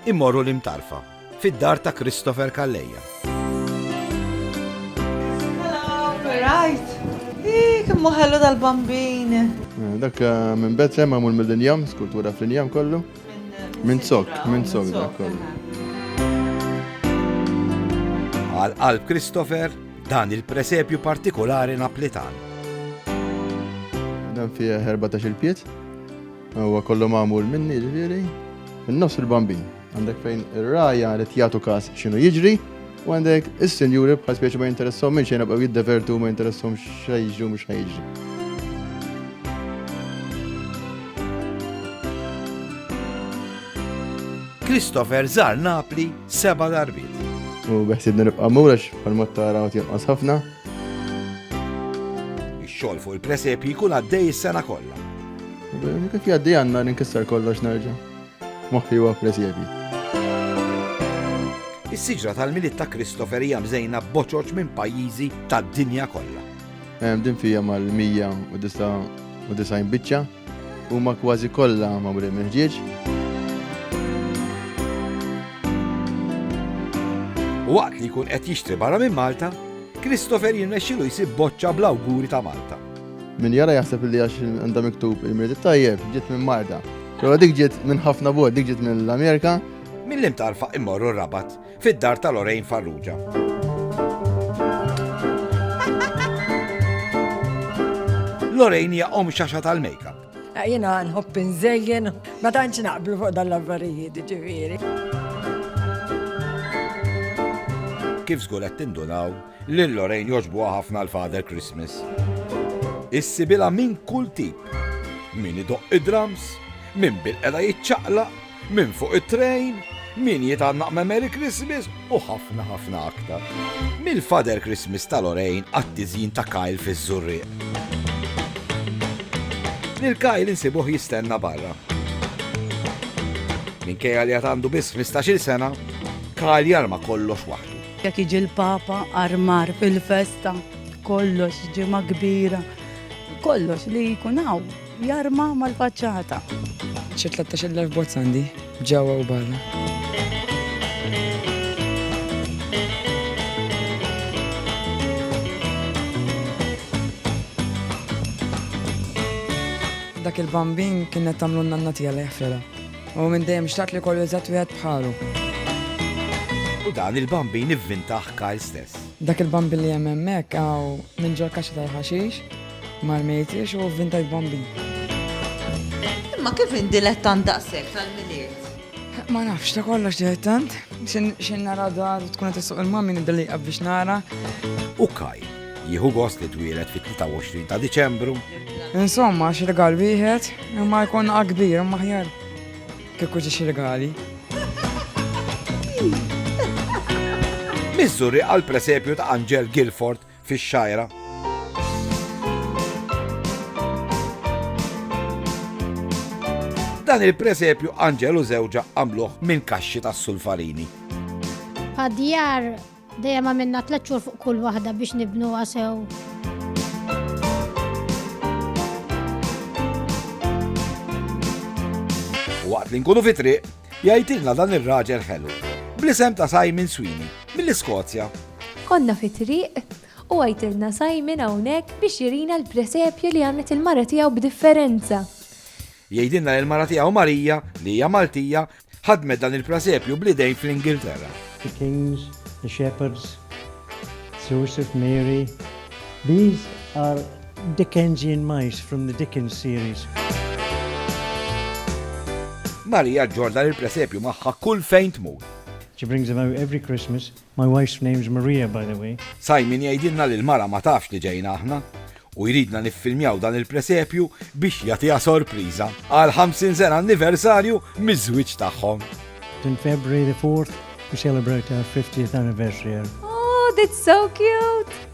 Immorru l-Imtarfa, fid-dar ta' Christopher Calleja. Rajt! Ih, kemm hu ħellu dal-bambin! Eh, dak eh, minn Betlem għamul mill-injam, skultura fl-injam kollu. Minn eh, sok, minn sok dak kollu. Għal qalb Christopher dan il-presepju partikolari naplitan. Dan fih 14 il-piet, Huwa kollu magħmul minni ġifieri. Min-nofs il-bambin. Għandek fejn ir-raja li jagħtu każ x'inhu jiġri, u għandek is-sinjuri bħal speċi ma jinteressom minn xejn bqgħu jiddevertu ma jinteressom xejn jiġri mhux xejn jiġri. Christopher żar Napli seba' darbiet. U beħsibni nibqa' mur għax bħalma tara għad jinqas ħafna. Ix-xogħol fuq il-presepji jkun għaddej is-sena kollha. Kif jgħaddi għandna ninkisser kollox nerġa'. Moħħi huwa presepji. Is-siġra tal-Milied ta' Christopher hija mżejna b'boċoċ minn pajjiżi tad-dinja kollha. Din fija mal-109 u disgħin biċċa huma kważi kollha magħmulin mill-ħġieġ. Waqt li jkun qed jixtri barra minn Malta, Christopher jirnexxilu jsib boċċa bl-awguri ta' Malta. Min jara jaħseb li għax għandha miktub il-mirdi tajjeb, ġiet minn Malta. Però dik ġiet minn ħafna bod, dik ġiet mill-Amerika. Mill-imtarfa immorru rabat fid-dar ta' Lorraine Farrugia. Lorraine hija om xaxa tal-makeup. Eh, jena nħobb nżejjen, ma tantx naqblu fuq dan l-affarijiet ġifieri. Kif żgur qed tindunaw lil Lorraine joġbuha ħafna l-Father Christmas. Issibila minn kull tip. Min idoq id-drums, minn bil-qeda jiċċaqlaq, Min fuq it-train, min jitgħannaq me Merry Christmas u ħafna ħafna aktar. Mill-Father Christmas ta' Lorraine għat-tiżjin ta' Kyle fiż-Żurrieq. Lil Kyle insibuh jistenna barra. Minkejja li għad għandu biss 15-il sena, Kyle jarma kollox waħdu. Jekk jiġi l-Papa armar fil-festa, kollox ġimgħa kbira, kollox li jkun hawn. Jarma mal-faċċata. Xi tlettax-il elf bozz għandi, ġewwa u barra. dak il-bambin kien qed tagħmlu n-nanna tiegħi li jaħfilha. U minn dejjem xtaqt li kollu eżatt wieħed bħalu. U dan il-bambin ivvintaħ Kyle stess. Dak il-bambin li hemm hemmhekk hawn minn ġol kaxxa tal-ħaxix. Mar mejtiex u vintajt bambin. Imma kif in dilettant daqshekk tal-miliet? Ma nafx ta' kollox dilettant, xin nara dar tkun qed issuq il-mammi niddelliqa biex nara. U kaj, jieħu gost li twieled fit-23 ta' Diċembru. Insomma, xi rigal wieħed, imma jkun akbir imma ħjar. Kieku ġi xi rigali. Miżuri għal presepju ta' Anġel Guilford fix-Xgħajra. Dan il-presepju Anġelu żewġa għamluh minn kaxxi tas-sulfarini. Għadjar dejjem għamilna tliet xhur fuq kull waħda biex nibnu għasew. Waqt li nkunu fitri, Jgħidilna dan ir-raġel ħelu, bl-isem ta' Simon Sweeney, mill-Iskozja. Konna fi triq u għajtilna Simon hawnhekk biex jirina l-presepju li għamlet il-mara tiegħu b'differenza. Jgħidilna li l-mara tiegħu Marija, li hija Maltija, ħadmet dan il-presepju bl-idejn fl-Ingilterra. The kings, the shepherds, Joseph, Mary, these are Dickensian mice from the Dickens series. Marija ġġorr dan il-presepju magħha kull fejn tmur. She brings him out every Christmas. My wife's name's Maria, by the way. Simon jgħidilna li l-mara ma tafx li ġejna aħna u jridna niffilmjaw dan il-presepju biex jagħtiha sorpriża għal 50 sena anniversarju miż-żwieġ tagħhom. In February the 4th, we celebrate our 50th anniversary. Oh, that's so cute!